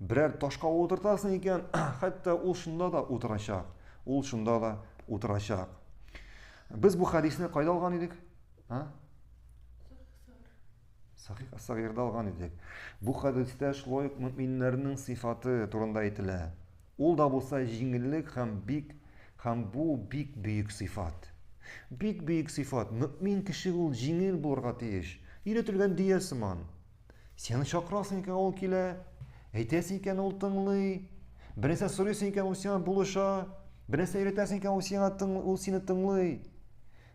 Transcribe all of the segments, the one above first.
Берәр ташка утыртасың икән, хәтта ул шунда да утырачак. Ул шунда да утырачак. Без бу хәдисне кайда алган идек? А? Сахих Ас-Сагирда алган идек. Бу хәдистә шулай ук мөминнәрнең сыйфаты турында әйтелә. Ул да булса җиңеллек һәм бик һәм бу бик бөек сыйфат. Бик бөек сыйфат. Мөмин кеше ул җиңел булырга тиеш. Өйрәтелгән дөя сыман. Сине чакырасың икән ул килә, әйтәсең икән ул тыңлый, бернәрсә сорыйсың икән ул сиңа булыша, бернәрсә өйрәтәсең икән ул сиңа тың, ул сине тыңлый.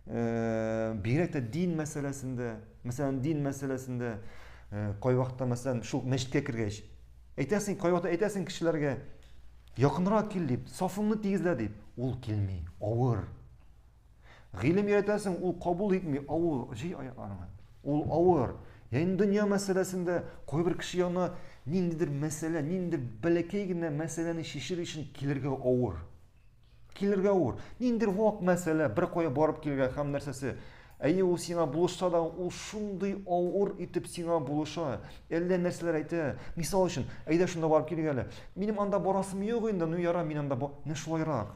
Э, бигрәк тә дин мәсьәләсендә, мәсәлән, дин мәсьәләсендә э, кайвакытта мәсәлән шул мәчеткә кергәч, әйтәсең, кайвакытта әйтәсең кешеләргә, якынрак кил дип, сафыңны тигезлә дип, ул килми, авыр. Гыйлем өйрәтәсең, ул кабул итми, авыр, җый аякларыңа. Ул авыр. Яни дөнья мәсьәләсендә кайбер кеше янына ниндидер мәсьәлә, ниндидер бәләкәй генә мәсьәләне чишер өчен килергә авыр. Килергә авыр. Ниндидер вак мәсьәлә, бер кая барып килергә һәм нәрсәсе. Әйе, ул сиңа булышса да, ул шундый авыр итеп сиңа булыша. Әллә нәрсәләр әйтә. Мисал өчен, әйдә шунда барып килгәле. Минем анда барасым юк инде, ну яра, мин анда, менә шулайрак.